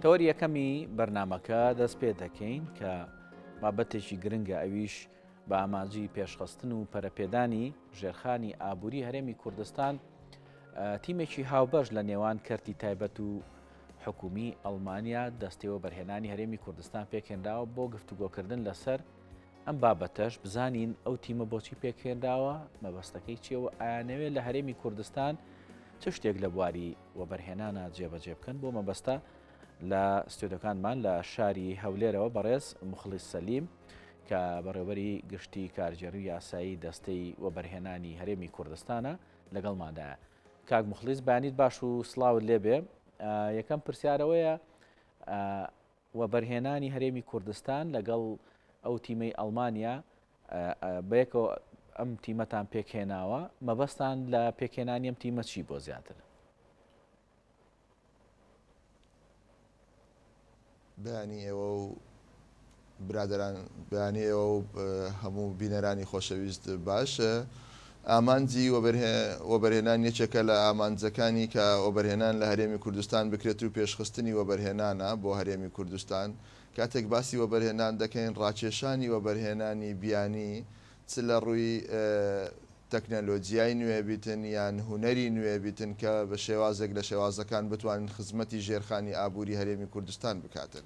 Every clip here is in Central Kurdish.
تەوەری یەکەمی بەرنمەکە دەست پێ دەکەین کە بابەتێکی گرنگە ئەویش بە ئامانجی پێشخستن و پەرەپێدانی ژێرخانی ئابووری هەرێمی کوردستان تیمێکی هاوبەش لە نێوان کەرتی تایبەت و حکومی ئەڵمانیا دەستەوە بەرهێنانی هەرێمی کوردستان پێکێنراوە بۆ گفتوگۆکردن لەسەر ئەم بابەتەش بزانین ئەو تیمە بۆچی پێکێنراوە مەبەستەکەی چیەوە ئایانەوێت لە هەرێمی کوردستان چ شتێک لە بواری وەبەرهێنانە جێبەجێ بکەن بۆ مەبەستە لە ستۆدەکانمان لە شاری هەولێرەوە بەڕێز مخلیس سەلیم کە بەڕێوەری گشتی کارگێری یاسایی دەستەی وەبەرهێنانی هەرێمی کوردستانە لەگەڵمادا کاک مخلیس بانیت باش و سلااوت لێبێ یەکەم پرسیارەوەیە وەبەرهێنانی هەرێمی کوردستان لەگەڵ ئەو تیمەی ئەڵمانیا بەیەکەوە ئەم تیمەتان پێکهێناوە مەبەستان لە پێکهێنانی ئەم تیمە چی بۆ زیاتر بەیانی ئێوە و برادران بەیانی ئێوە و هەموو بینەرانی خۆشەویست باش ئامانجی وەبەرهێنان یەکێکە لە ئامانجەکانی کە وەبەرهێنان لە هەرێمی کوردستان بکرێت و پێشخستنی وەبەرهێنانە بۆ هەرێمی کوردستان، کاتێک باسی وەبەرهێنان دەکەین ڕاکێشانی وەبەرهێنانی بیانی چ لە ڕووی تەکنەلۆجیای نوێ بیتن یان هونەری نوێ بیتن کە بە شێوازێک لە شێوازەکان بتوانن خزمەتی ژێرخانی ئابووری هەرێمی کوردستان بکاتن.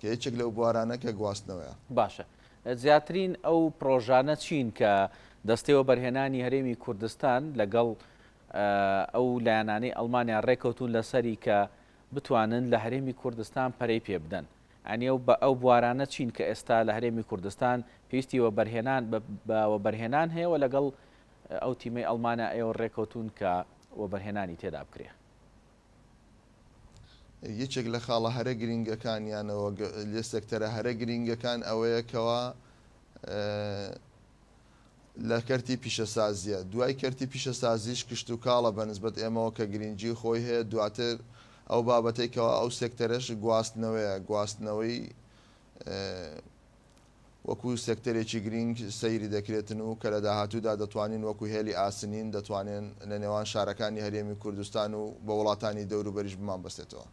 کە یەکێک لەو بوارانە کە گواستنەوەیە. باشە زیاترین ئەو پڕۆژانە چین کە دەستەی وەبەرهێنانی هەرێمی کوردستان لەگەڵ ئەو لایەنانەی ئەڵمانیا ڕێکەوتون لەسەری کە بتوانن لە هەرێمی کوردستان پەرەی پێ بدەن؟ یعنی ئەو بە ئەو بوارانە چین کە ئێستا لە هەرێمی کوردستان پێویستی وەبەرهێنان بە وەبەرهێنان هەیە و لەگەڵ ئەو تیمەی ئەڵمانیا ئێوە ڕێکەوتون کە وەبەرهێنانی تێدا بکرێ؟ یەکێک لە خاڵە هەرە گرینگەکان یانەوە لێ سێکتەرە هەرە گرینگەکان ئەوەیە کەوا لە کەرتی پیشەسازیە دوای کەرتی پیشەسازیش کشت و کاڵە بە نسبەت ئێمەوە کە گرینگی خۆی هەیە دواتر ئەو بابەتەی کەوا ئەو سێکتەرەش گواستنەوەیە گواستنەوەی وەکو سێکتەرێکی گرینگ سەیری دەکرێتن و کە لە داهاتوودا دەتوانین وەکو هێلی ئاسنین دەتوانێن لە نێوان شارەکانی هەرێمی کوردستان و بە وڵاتانی دەوروبەریش بمانبەستێتەوە.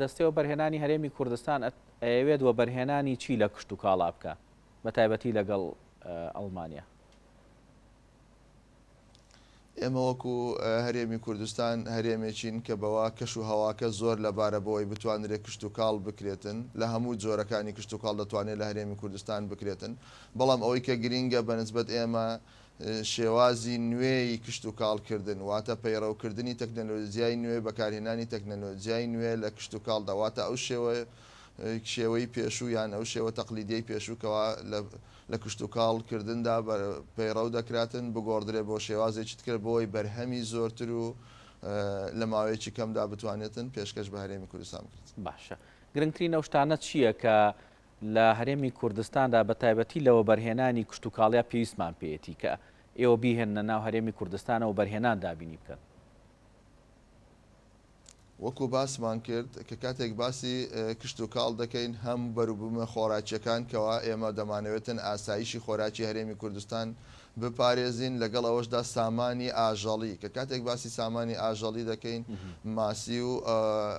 دەستەی وەبەرهێنانی هەرێمی کوردستان ئەیەوێت وەبەرهێنانی چی لە کشتوکاڵا بکا بەتایبەتی لەگەڵ ئەڵمانیا؟ ئێمە وەکو هەرێمی کوردستان هەرێمێکین کە بەوا کەش و هەواکە زۆر لەبارە بۆ ئەوەی بتوانرێت کشتوکاڵ بکرێتن لە هەموو جۆرەکانی کشتوکاڵ دەتوانێت لە هەرێمی کوردستان بکرێتن بەڵام ئەوەی کە گرینگە بە نسبەت ئێمە شێوازی نوێی کشتوکاڵ کردن واتە پەیڕەو کردنی تەکنەلۆجیای نوێ بەکارهێنانی تەکنەلۆجیای نوێ لە کشتوکاڵدا واتە ئەو شێوە شێوەی پێشوو یان ئەو شێوە تەقلیدیەی پێشوو کەوا لە لە کشتوکاڵ کردندا پەیڕەو دەکراتن بگۆڕدرێت بۆ شێوازێکی تکرە بۆی بەرهەمی زۆرتر و لە ماوەیەکی کەمدا بتوانێتن پێشکەش بە هەرێمی کوردستان بکرێت. باشە گرنگترین ئەو شتانە چییە کە لە هەرێمی کوردستاندا بە تایبەتی لە وەبەرهێنانی کشتوکاڵیا پێویستمان پێیەتی کە ئێوە بیهێننە ناو هەرێمی کوردستانەوە بەرهێنان دابینی بکەن؟ وەکو باسمان کرد کە کاتێک باسی کشتوکاڵ دەکەین هەم بەروبومە خۆراکیەکان کەوا ئێمە دەمانەوێتن ئاسایشی خۆراکی هەرێمی کوردستان بپارێزین لەگەڵ ئەوەشدا سامانی ئاژەڵی کە کاتێک باسی سامانی ئاژەڵی دەکەین ماسی و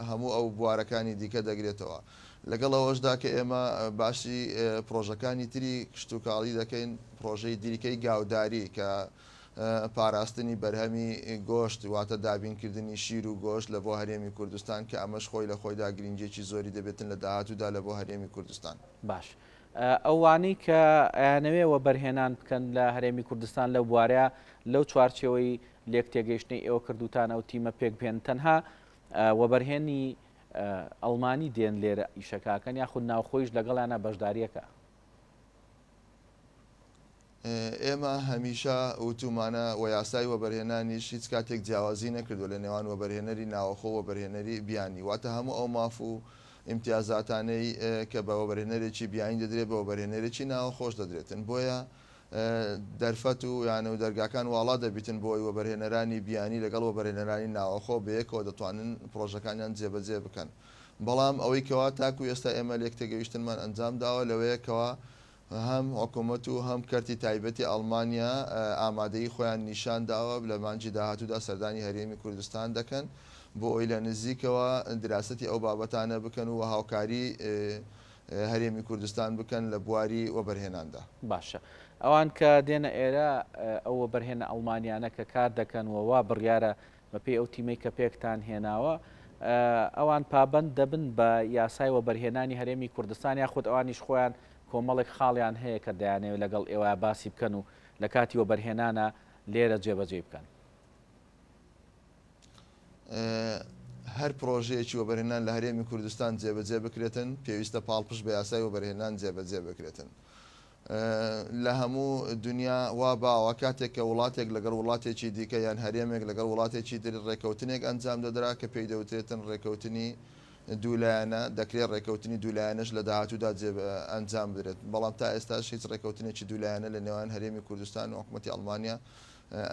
هەموو ئەو بوارەکانی دیکە دەگرێتەوە لەگەڵ ئەوەشدا کە ئێمە باسی پرۆژەکانی تری کشتوکاڵی دەکەین پرۆژەی دیریکەی گاوداری کە پاراستنی بەرهەمی گۆشت واتە دابینکردنی شیر و گۆشت لە بۆ هەرێمی کوردستان کە ئەمەش خۆی لە خۆیدا گرینگیەکی زۆری دەبێتن لە داهاتوودا لە بۆ هەرێمی کوردستان. باش ئەوانەی کە ئەیانەوێ وەبەرهێنان بکەن لە هەرێمی کوردستان لەو بوارە لەو چوارچێوەی لێک تێگەیشتنەی ئێوە کردووتان ئەو تیمە پێک بهێنن تەنها وەبەرهێنی ئەڵمانی دێن لێرە ئیشەکاکەن یاخود ناوخۆیش لەگەڵیانە بەشداریەکە؟ ئێمە هەمیشە وتومانە و یاسای وەبەرهێنانیش هیچ کاتێک جیاوازی نەکردوە لە نێوان وەبەرهێنەری ناوەخۆ و وەبەرهێنەری بیانی، واتە هەموو ئەو ماف و ئیمتیازاتانەی کە بە وەبەرهێنەرێکی بیانی دەدرێت بە وەبەرهێنەرێکی ناوەخۆش دەدرێتن، بۆیە دەرفەت و یانە و دەرگاکان واڵا دەبیتن بۆ ئەوەی وەبەرهێنەرانی بیانی لەگەڵ وەبەرهێنەرانی ناوەخۆ بەیەکەوە دەتوانن پڕۆژەکانیان جێبەجێ بکەن، بەڵام ئەوەی کەوا تاکو ئێستا ئێمە لێکتێگەیشتنمان ئەنجام داوە لەوەیە کەوا هەم حکومەت و هەم کەرتی تایبەتی ئەڵمانیا ئامادەیی خۆیان نیشان داوە لە مانگی داهاتوودا سەردانی هەرێمی کوردستان دەکەن بۆ ئەوەی لە نزیکەوە دراسەتی ئەو بابەتانە بکەن و هاوکاری هەرێمی کوردستان بکەن لە بواری وەبەرهێناندا. باشە ئەوان کە دێنە ئێرە ئەو وەبەرهێنە ئەڵمانیانە کە کار دەکەن و وا بڕیارە بەپێی ئەو تیمەی کە پێکتان هێناوە، ئەوان پابەند دەبن بە یاسای وەبەرهێنانی هەرێمی کوردستان یا خود ئەوانیش خۆیان کۆمەڵێک خاڵیان هەیە کە دەیانەوێت لەگەڵ ئێوە باسی بکەن و لە کاتی وەبەرهێنانا لێرە جێبەجێی بکەن؟ هەر پڕۆژەیەکی وەبەرهێنان لە هەرێمی کوردستان جێبەجێ بکرێتن، پێویستە پاڵپشت بە یاسای وەبەرهێنان جێبەجێ بکرێتن. لە هەموو دونیا وا باوە کاتێک کە وڵاتێک لەگەڵ وڵاتێکی دیکە یان هەرێمێک لەگەڵ وڵاتێکی تر رێکەوتنێک ئەنجام دەدرا کە پێی دەوترێتن رێکەوتنی دوو لایەنە، دەکرێت رێکەوتنی دوو لایەنەش لە داهاتوودا جێ ئەنجام بدرێت، بەڵام تا ئێستاش هیچ رێکەوتنێکی دوو لایەنە لە نێوان هەرێمی کوردستان و حکومەتی ئەڵمانیا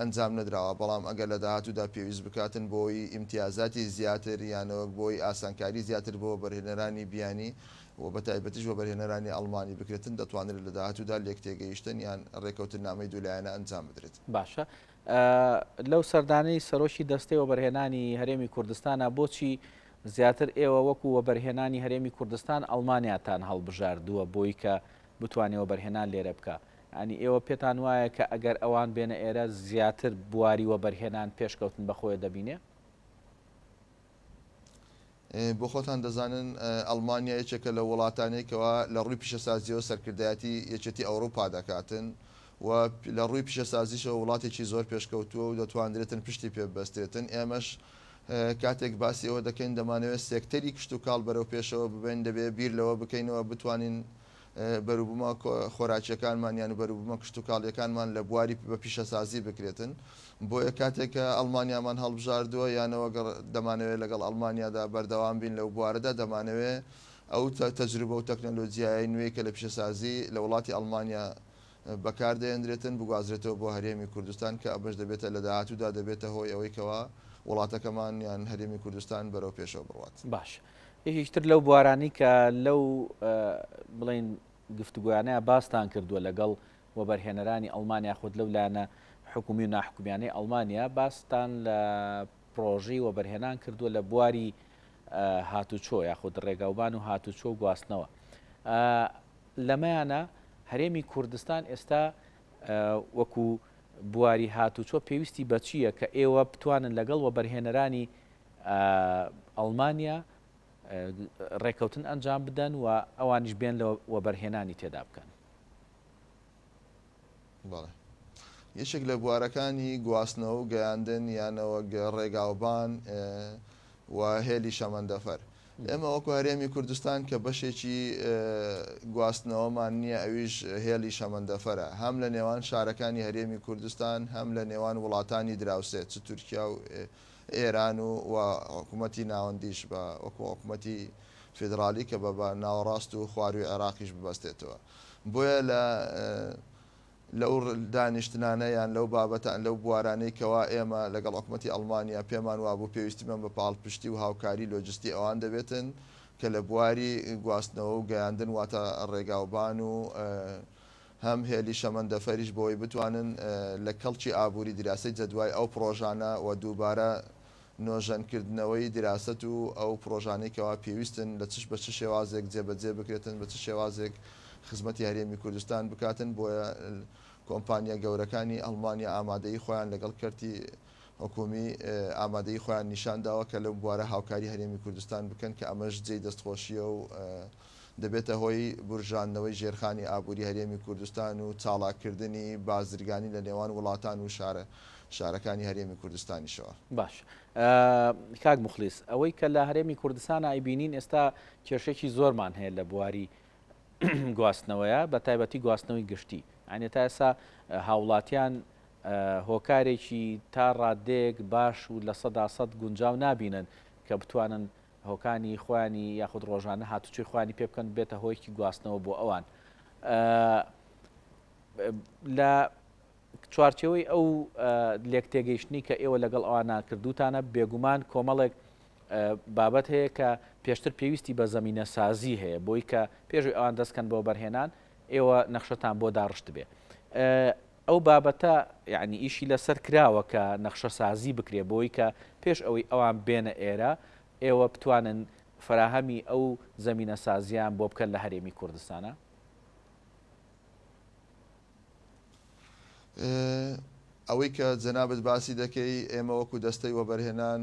ئەنجام نەدراوە، بەڵام ئەگەر لە داهاتوودا پێویست بکاتن بۆی ئیمتیازاتی زیاتر یانەوەک بۆی ئاسانکاری زیاتر بۆ وەبەرهێنەرانی بیانی و بە تایبەتیش وەبەرهێنەرانی ئەڵمانی بکرێتن، دەتوانرێت لە داهاتوودا لێکتێگەیشتن یان رێککەوتننامەی دوولایەنە ئەنجام بدرێت. باشە لەو سەردانەی سەرۆکی دەستەی وەبەرهێنانی هەرێمی کوردستانە بۆچی زیاتر ئێوە وەکو وەبەرهێنانی هەرێمی کوردستان ئەڵمانیاتان هەڵبژاردووە بۆی کە بتوانێ وەبەرهێنان لێرە بکا؟ یانی ئێوە پێتان وایە کە ئەگەر ئەوان بێنە ئێرە زیاتر بواری وەبەرهێنان پێشکەوتن بە خۆێ دەبینێ؟ بۆ خۆتان دەزانن ئەڵمانیا یەکێکە لە وڵاتانەی کەوا لە ڕووی پیشەسازیەوە سەرکردایەتی یەکێتی ئەوروپا دەکاتن و لە ڕووی پیشەسازیشەوە وڵاتێکی زۆر پێشکەوتووە و دەتواندرێتن پشتی پێ ببەستێتن ئێمەش کاتێک باسی ئەوە دەکەین دەمانەوێت سێکتەری کشت و کاڵ بەرەو پێشەوە ببین دەبێ بیر لەوە بکەینەوە بتوانین بەروبومە خۆراکیەکانمان یان بەروبومە کشتوکاڵیەکانمان لە بواری بە پیشەسازی بکرێتن بۆیە کاتێک کە ئەڵمانیامان هەڵبژاردوە یانەوە گەڕ دەمانەوێ لەگەڵ ئەڵمانیادا بەردەوام بین لەو بوارەدا دەمانەوێ ئەو تە تەجروبە و تەکنەلۆجیایەی نوێی کە لە پیشەسازی لە وڵاتی ئەڵمانیا بەکار دەێندرێتن بگوازرێتەوە بۆ هەرێمی کوردستان کە ئەمەش دەبێتە لە داهاتودا دەبێتە هۆی ئەوەی کەوا وڵاتەکەمان یان هەرێمی کوردستان بەرەو پێشەوە بڕوات. باش یەکێکی تر لەو بوارانەی کە لەو بڵێن گفتوگۆیانەیە باستان کردووە لەگەڵ وەبەرهێنەرانی ئەڵمانیا خۆت لەو لایەنە حکومی و ناحکومیانەی ئەڵمانیا باستان لە پرۆژی وەبەرهێنان کردووە لە بواری هاتوچۆ یاخود ڕێگاوبان و هاتوچۆ و گواستنەوە لەمەیانە هەرێمی کوردستان ئێستا وەکو بواری هاتوچۆ پێویستی بەچییە کە ئێوە بتوانن لەگەڵ وەبەرهێنەرانی ئەڵمانیا ڕێکەوتن ئەنجام بدەن و ئەوانیش بێن لە وەبەرهێنانی تێدا بکەن. بەڵێ یەکێک لە بوارەکانی گواستنەوە و گەیاندن یان نەوەک ڕێگاوبان و هێلی شەمەندەفەر ئێمە وەکو هەرێمی کوردستان کە بەشێکی گواستنەوەمان نییە ئەویش هێلی شەمەندەفەرە هەم لە نێوان شارەکانی هەرێمی کوردستان هەم لە نێوان وڵاتانی دراوسێ چ تورکیا و ئێران و و حکوومەتی ناوەندیش بە وەکوو حکوومەتی فیدراڵی کە بە بە ناوەڕاست و خوارووی عێراقیش ببەستێتەوە. بۆیە لە لەو دانیشتنانە یان لەو بابەتە لەو بوارانەی کەوا ئێمە لەگەڵ حکوومەتی ئەڵمانیا پێمان وابوو پێویستیمان بە پاڵپشتی و هاوکاری لۆجستی ئەوان دەبێتن کە لە بواری گواستنەوە و گەیاندن واتە ڕێگاوبان و هەم هێلی شەمەندەفەریش بۆی بتوانن لە کەڵکی ئابووری دیراسەی جەدوای ئەو پڕۆژانە و دووبارە نۆژەن کردنەوەی دیراسەت و ئەو پڕۆژانەی کەوا پێویستن لە چ بە چ شێوازێک جێ بە جێ بکرێتن بە چ شێوازێک خزمەتی هەرێمی کوردستان بکاتن بۆیە کۆمپانیا گەورەکانی ئەڵمانیا ئامادەیی خۆیان لەگەڵ کەرتی حکومی ئامادەیی خۆیان نیشان داوە کە لەو بوارە هاوکاری هەرێمی کوردستان بکەن کە ئەمەش جێی دەستخۆشیە و دەبێتە هۆی بورژاندنەوەی ژێرخانی ئابووری هەرێمی کوردستان و چاڵاککردنی بازرگانی لە نێوان وڵاتان و شارە شارەکانی هەرێمی کوردستانیشەوە. باش کاک موخلیس ئەوەی کە لە هەرێمی کوردستانە ئەیبینین ئێستا کێشێکی زۆرمان هەیە لە بواری گواستنەوەیە بە تایبەتی گواستنەوەی گشتی ئەنێ تا ئێسا هاوڵاتیان هۆکارێکی تا ڕادێک باش و لە سەدا سەد گونجاو نابینن کە بتوانن هۆکانی خۆیانی یاخود ڕۆژانە هاتوچۆی خۆیانی پێ بکەن بێتە هۆیەکی گواستنەوە بۆ ئەوان لە چوارچەوەی ئەو لێک تێگەیشتنی کە ئێوە لەگەڵ ئەوان ناکردوتانە بێگومان کۆمەڵێک بابەت هەیە کە پێشتر پێویستی بە زمینە سازی هەیە بۆی کە پێشوی ئەوان دەستکەن بۆ بەرهێنان ئێوە نەخشەتان بۆ داڕشت بێ ئەو بابەتە یانی ئیشی لەسەر کراوە کە نەخشەسازی بکرێ بۆی کە پێش ئەوەی ئەوان بێنە ئێرە ئێوە بتوانن فەراهەمی ئەو زەمینە سازیان بۆ بکەن لە هەرێمی کوردستانا؟ ئەوەی کە جەنابت باسی دەکەی ئێمە وەکو دەستەی وەبەرهێنان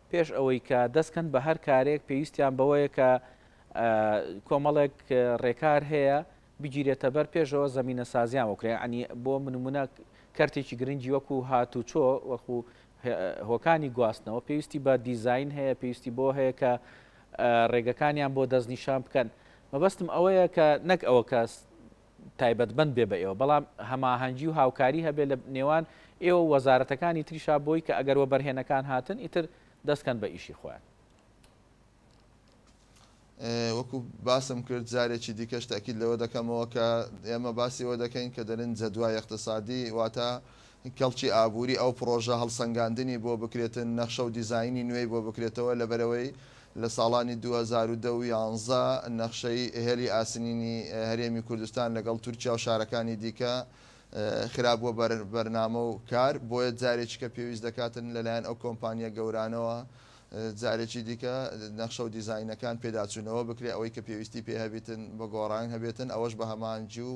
پێش ئەوەی کە دەستکەن بە هەر کارێک پێویستیان بەوەیە کە کۆمەڵێک ڕێکار هەیە بگیرێتە بەر پێشەوە زمینە سازیان وکرێ ئەنی بۆ منمونە کەرتێکی گرنگی وەکو هات و چۆ وەخو هۆکانی گواستنەوە پێویستی بە دیزین هەیە پێویستی بۆ هەیە کە ڕێگەکانیان بۆ دەستنیشان بکەن مەبەستم ئەوەیە کە نەک ئەوە کەس تایبەتمەند بێ بە ئێوە بەڵام هەماهەنگی و هاوکاری هەبێ لە نێوان ئێوە و وەزارەتەکانی تریشا بۆی کە ئەگەر وەبەرهێنەکان هاتن ئیتر دەست کەن بە ئیشی خۆیان. وەکو باسم کرد جارێکی دیکەش تەئکید لەوە دەکەمەوە کە ئێمە باسی ئەوە دەکەین کە دەلێن جەدوای ئیقتسادی واتە کەڵکی ئابووری ئەو پڕۆژە هەڵسەنگاندنی بۆ بکرێتن نەخشە و دیزاینی نوێی بۆ بکرێتەوە لەبەرەوەی لە ساڵانی دوو هەزار و دە و یانزە نەخشەی هێڵی ئاسنینی هەرێمی کوردستان لەگەڵ تورکیا و شارەکانی دیکە خرا بووە بەر بەرنامە و کار، بۆیە جارێکیکە پێویست دەکاتن لەلایەن ئەو کۆمپانییە گەورانەوە جارێکی دیکە نەخشە و دیزاینەکان پێداچوونەوە بکرێت ئەوەی کە پێویستی پێ هەبیتن بە گۆڕان هەبێتن ئەوەش بە هەماهەنگی و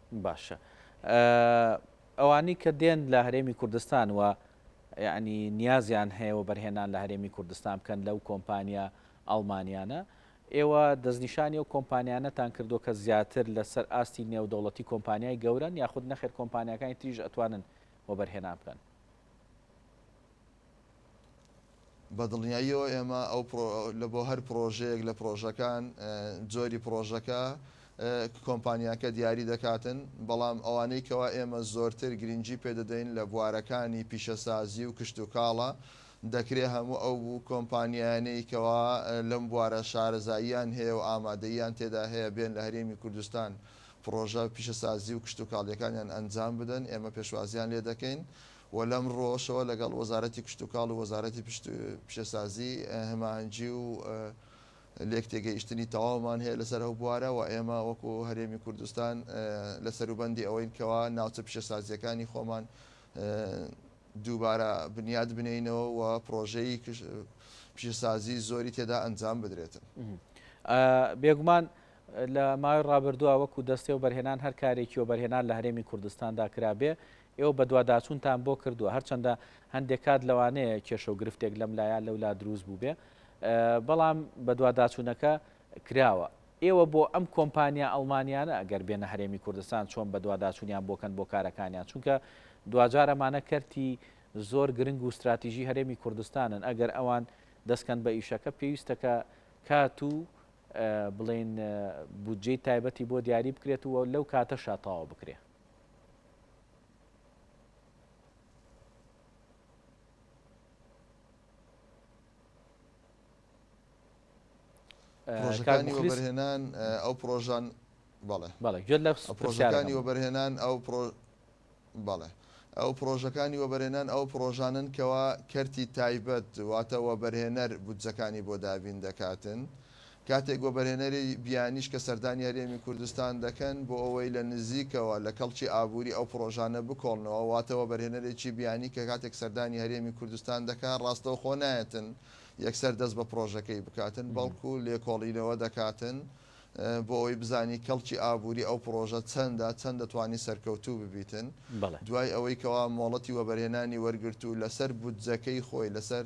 باشە ئەوانی کە دێن لە هەرێمی کوردستان و یعنی نیازیان هەیە و بەرهێنان لە هەرێمی کوردستان بکەن لەو کۆمپانیا ئەڵمانیانە ئێوە دەستنیشانی و کۆمپانیانەتان کردو کە زیاتر لەسەر ئاستی نێودەوڵەتی کۆمپانیای گەورن یاخود نەخێر کۆمپانیەکانی تریژ ئەتوانن و بەرهێنان بکەن بە دڵنیاییەوە ئێمە لە بۆ هەر پڕۆژەیەک لە پڕۆژەکان جۆری پڕۆژەکە کۆمپانیاکە دیاری دەکاتن بەڵام ئەوانەی کەوا ئێمە زۆرتر گرنگجی پێدەدەین لە بوارەکانی پیشەسازی و کشت و کاڵە دەکرێ هەموو ئەو بوو کۆمپانیانەی کەوا لەم بوارە شارەزاییان هەیە و ئامادەیان تێدا هەیە بێن لە هەرێمی کوردستان پڕۆژە پیشەسازی و کشت و کاڵیەکانیان ئەنجام بدەن ئێمە پێشوازیان لێ دەکەین. و لەم ڕوەشەوە لەگەڵ وەزارەتی کشتوکاڵ و وەزارەتی پیشەسازی هماهەنگی و لێکتێگەیشتنی تەواومان هەیە لەسەر ئەو بوارە و ئێمە وەکو هەرێمی کوردستان لە سەروبەندی ئەوەین کەوا ناوچە پیشەسازییەکانی خۆمان دووبارە بنیات بنێینەوە و پڕۆژەی پیشەسازی زۆری تێدا ئەنجام بدرێتن. بێگومان لە ماوەی ڕابردووە وەکو دەستێوبەرهێنان هەر کارێکی وەبەرهێنان لە هەرێمی کوردستاندا کرابێ ئێوە بەدواداچوونتان بۆ کردووە، هەرچەندە هەندێک کات لەوانەیە کێشە و گرفتێک لەم لا یا لەو لا دروست بووبێ، بەڵام بەدواداچوونەکە کراوە. ئێوە بۆ ئەم کۆمپانیا ئەڵمانییانە ئەگەر بێنە هەرێمی کوردستان چۆن بەدواداچوونیان بۆ کەن بۆ کارەکانیان؟ چونکە دواجار ئەمانە کەرتی زۆر گرنگ و ستراتیژی هەرێمی کوردستانن، ئەگەر ئەوان دەست کەن بە ئیشەکە پێویستە کە کات و بڵێین بودجەی تایبەتی بۆ دیاری بکرێت و لەو کاتەشا تەواو بکرێ. پرۆژەکانی وەبەرهێنان ئەو پرۆژان بەڵێ بەڵێ گوێت لە پرۆژەکانی وەبەرهێنان ئەو بەڵێ ئەو پرۆژەکانی وەبەرێنان ئەو پرۆژانن کەوا کەرتی تایبەت واتە وەبەرهێنەر بودجەکانی بۆ دابین دەکاتن. کاتێک وەبەرهێنەری بیانیش کە سەردانی هەرێمی کوردستان دەکەن بۆ ئەوەی لە نزیکەوە لە کەڵکی ئابووری ئەو پڕۆژانە بکۆڵنەوە، واتە وەبەرهێنەرێکی بیانی کە کاتێک سەردانی هەرێمی کوردستان دەکات ڕاستەوخۆ نایەتن یەکسەر دەست بە پڕۆژەکەی بکاتن بەڵکو لێکۆڵینەوە دەکاتن بۆ ئەوەی بزانی کەڵکی ئابووری ئەو پڕۆژە چەندە، چەند دەتوانی سەرکەوتوو ببیتن دوای ئەوەی کەوا مۆڵەتی وەبەرهێنانی وەرگرت و لەسەر بودجەکەی خۆی، لەسەر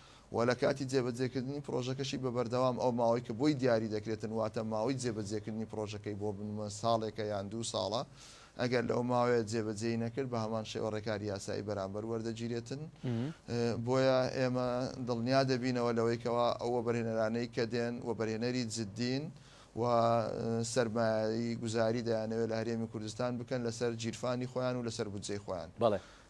و لە کاتی جێبەجێکردنی پڕۆژەکەشی بە بەردەوام ئەو ماوەی کە بۆی دیاری دەکرێتن واتە ماوەی جێبەجێکردنی پڕۆژەکەی بۆ بنمونە ساڵێکە یان دوو ساڵە ئەگەر لەو ماوەیە جێبەجێی نەکرد بە هەمان شێوە ڕێکاری یاسایی بەرامبەر وەردەگیرێتن بۆیە ئێمە دڵنیا دەبینەوە لەوەی کەوا ئەو وەبەرهێنەرانەی کە دێن وەبەرهێنەری جددین و سەرمایەی گوزاری دەیانەوێت لە هەرێمی کوردستان بکەن لەسەر گیرفانی خۆیان و لەسەر بودجەی خۆیان.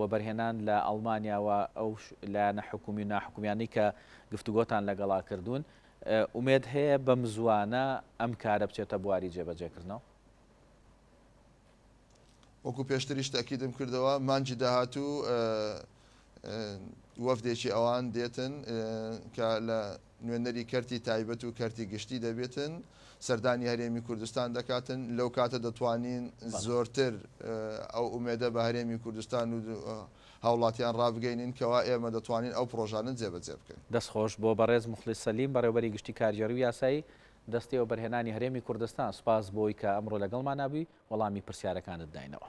وەبەرهێنان لە ئەڵمانیا و ئەو لایەنە حکوومی و ناحکوومیانەی کە گفتوگۆتان لەگەڵا کردوون، ئومێد هەیە بەمزووانە ئەم کارە بچێتە بواری جێبەجێکردنەوە؟ وەکو پێشتریش تەئکیدم کردەوە، مانگی داهاتوو وەفدێکی ئەوان دێتن کە لە نوێنەری کەرتی تایبەت و کەرتی گشتی دەبێتن، سەردانی هەرێمی کوردستان دەکاتن، لەو کاتە دەتوانین زۆرتر ئەو ئومێدە بە هەرێمی کوردستان و هاوڵاتیان ڕابگەینین کەوا ئێمە دەتوانین ئەو پڕۆژانە جێبەجێ بکەین. دەست خۆش بۆ بەڕێز موخلیس سەلیم بەڕێوەبەری گشتی کارگێڕی و یاسایی دەستەی وەبەرهێنانی هەرێمی کوردستان، سوپاس بۆی کە ئەمڕۆ لەگەڵمانا بووی وەڵامی پرسیارەکانت داینەوە.